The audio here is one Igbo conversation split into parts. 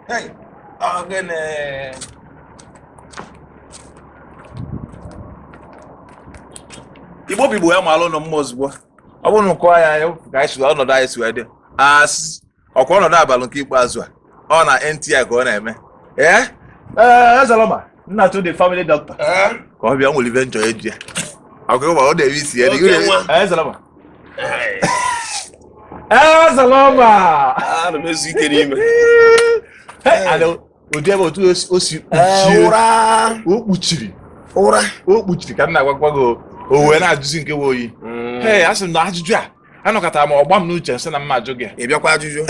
Hey, ogene. Igbo bụ Igbo ya malụ unu mma ozugbo ọ bụrụ na ụkọ ya ka anyị si ọnọdụ anyị si wee dị as ọkwa ọnọdụ abalị nke ikpeazụ a ọ na NTI ka ọ na-eme ee ee Ezaloma nna to the family doctor ka ọ bịa were ife nchọ eji ya ọkụ ịgba ọ na-eme isi ya dị Oke nwa. ee Ezaloma Ezaloma ana m ezu ike n'ime Hey, ada ụdị ebe otu o si- o si Ee, kpuchie iru o kpuchiri iru o kpuchiri ka m na-agwakwa gị o- o wee na-ajụzi nke bụ oyi ee asị m na ajụjụ a anọkatara m ọ gbaa m n'uche m sị na m ma ajụ gị ị bịakwa ajụjụ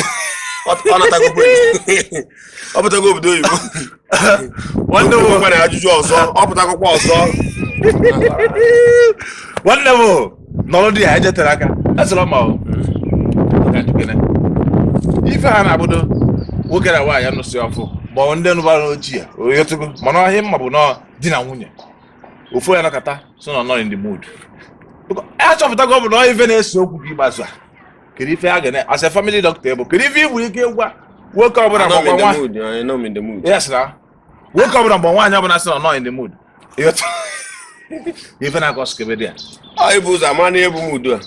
ọ pụtago obodo oyibo nwanne m nwere ajụjụ ọzọ ọ pụtakwa ọzọ nwanne m nọrọ dị ya ejetere aka esịrọ ma ife ha na-abụdo nwoke na nwaanyị nụsị ọfụụ ma ọ ndị nụbara ochie o tego mana ihe m ma bụ na ọ di na nwunye ofu onye nọkata sị na ọ nọ in the mood achọpụtago m na ọ ife na-ese okwu gị gbaza kedu ife a ga-eme as a family doctor bụ kedu ife ị nwere ike gwa nwoke ọbụla Anọ m in mgbe the nwa mood, anọ m in the mood. yes na nwoke ọbụla mgbe nwaanyị ọbụla sị na ọ nọ in the mood ị ghọta ife m na-akọ skebedi ya Ọ ịbụ ụzọ ama na ebu mood a.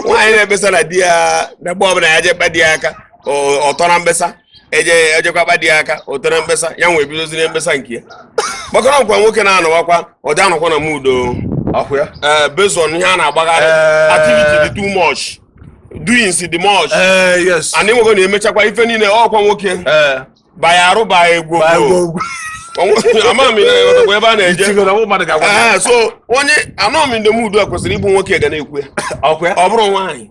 Nwaanyị na-ekpesa na di ya na mgbe ọbụla ya jee kpa di ya aka, ọ ọ tọrọ mkpesa. eje o jekwa kpa di ya aka o tere mkpesa ya wee bidoziri mkpesa nke ya gbakọrọ ọkwa nwoke na-anọwakwa ọ dị anọkwa na mood ọkwa ya ee based on ihe a na-agbagharị Eh. activity dị too much doings dị much ee yes and ịnwego na emechakwa ife niile ọkwa nwoke ee baya arụ baya egwu baa egwu ogwu ogwu. ama m ihe ọtọkwa ebe a na-eje itigo na ụmụ mmadụ ga-agwa gị. Ee, so onye anọ m in the mood a kwesịrị ịbụ nwoke ga na-ekwu ya ọkwa ya ọ bụrụ nwaanyị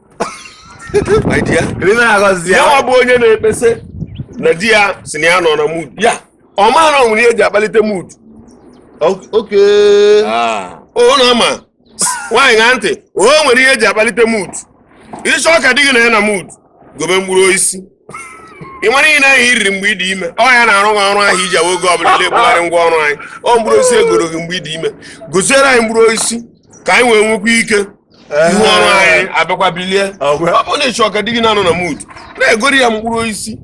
my dear Ri na agọzi ya ya nwa bụ onye na-ekpesa na di ya sị na ya nọ na mood ya ọ ma na o nwere ihe eji akpalite mood Ok- Ok. ọ na-ama nwaanyị na ntị o nwere ihe eji akpalite mood ị chọọ ka di gị na ya na mood gobe mkpụrụ osisi ị mara ihe ndị ahụ i riri mgbe ị dị ime ọ ya na-arụ gị ọrụ ahụ iji awa oge ọbụla na-ebugharị ngwa ọrụ anyị ọ mkpụrụ osisi egoro gị mgbe ị dị ime goziere anyị mkpụrụ osisi ka anyị wee nwekwa ike ngwa ọrụ anyị abịakwa bilie ọ bụrụ na ị chọọ ka di gị na-anọ na mood na-egoro ya mkpụrụ osisi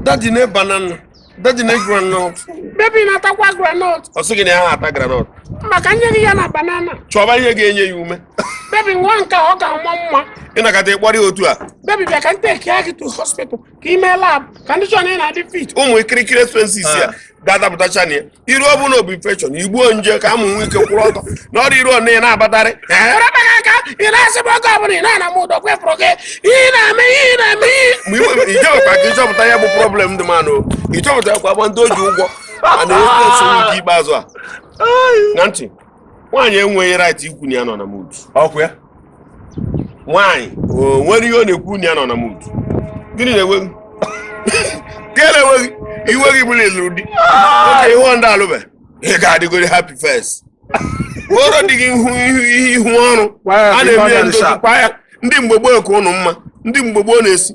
daddy nee banana Daddy nee granọt. Baby na-atakwa granọt. Ọ sị gị na ya ha ata granọt. Ma ka m nye gị ya na banana. Chọba ihe ga-enye ya ume. Baby nwaa nke ọ ga-ama mma. Ị nọkata ị kpọrọ ya otu a. Baby bịa ka m takie gị to hospital ka i mee lab ka ndị chọrọ ị na-adị fit. Ụmụ ikirikiri expenses ya ah. ga-adapụtacha na ya. iru ọ bụ na ọ bụ infection igbuo nje ka amụ nwee ike kwụrụ ọtọ na ọrụ iru ọna ị na-abatarị erabana aka ị na-asịbụ oge ọbụla ị na-ana m ụdọ kwefụrụ gị ihe ị na-eme ihe ị na-eme ihe ma iwe- ijewekwa ka ịchọpụta ya bụ problem dị manụ ịchọpụta kwa gba ndị o ji ụgwọ a na-enweta nsogbu nke ikpeazụ a na ntị nwaanyị enweghị right ikwu na ya nọ na mood ọkwa ya nwaanyị o nwere ihe ọ na-ekwu na ya nọ na mood gịnị na-ewe gị gịnị na-ewe gị iwe gị bụrụ ị lụrụ di oke ihe ọ ndị alụbe ị ga-adịgoro happy first kpọrọ di gị ihu ihu ihe ihu ọrụ Gwa ya a ka ị na-eme ya nọdụ ndozi sharp. ọkwa ya ndị mgbe gboo ka ụnụ mma ndị mgbe gboo na-esi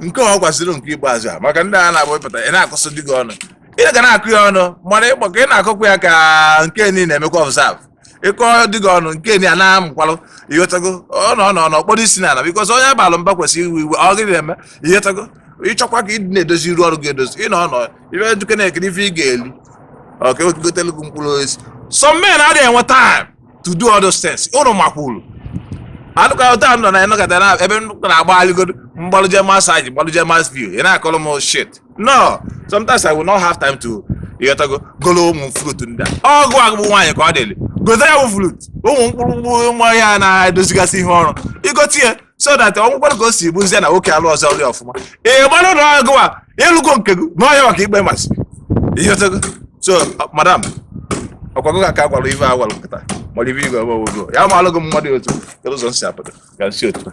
nke ọ gwaziri nke ikpeazụ a maka ndị a na-abụ ịpụta ị na-akọsị di gị ọnụ ị ga na-akọ ya ọnụ mana ịkpọ ka ị na-akọkwa ya ka nke ni na-emekwa observe ị kọọ di gị ọnụ nke ni a na-amụkwalụ ịghọtago ọ nọ nọ nọ kpọrọ isi n'ala because onye a balụ mba kwesịrị iwe iwe ọ gịnị na-eme ịghọtago ịchọkwa ka ịdị na-edozi iru ọrụ gị edozi ị nọ nọ ibe duke na-ekiri ife ị ga-eli ọ ka egotelu gị mkpụrụ osisi some men adịghị enwe time to do all those things ụnụ makwuru alụka ụta nọ na ịnọkọta na ebe m na-agba alịgodo m gbalụje massage gbalụje mas view ị na-akọrọ m shit no sometimes i will not have time to ịghọtago golo ụmụ fruit ndị a ọ gị a gị bụ nwaanyị ka ọ dịrị igote ya bụ fruit ụmụ mkpụrụ mkpụrụ ụmụ ihe a na-edozigasị ihe ọrụ igote ya so that ọ nwekwara ka o si bụzie na nwoke alụ ọzọ ọrụ ọfụma ị mara na gịwa ị lụgo nke gị na ọhịa maka ikpe masị ịghọtago so madam ọkwa gị ka a ka gwara ife a gwara nkịta mara ife igwe ọgbọ ogo ya ma alụgo mmadụ otu kedu ụzọ m si apụta ka m si otu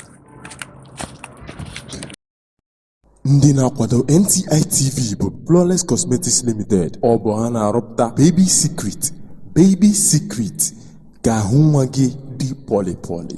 ndị na-akwado nti tv bụ flawless cosmetics limited ọ bụ ha na-arụpụta baby secret baby secret ka ahụ nwa gị dị pọlịpọlị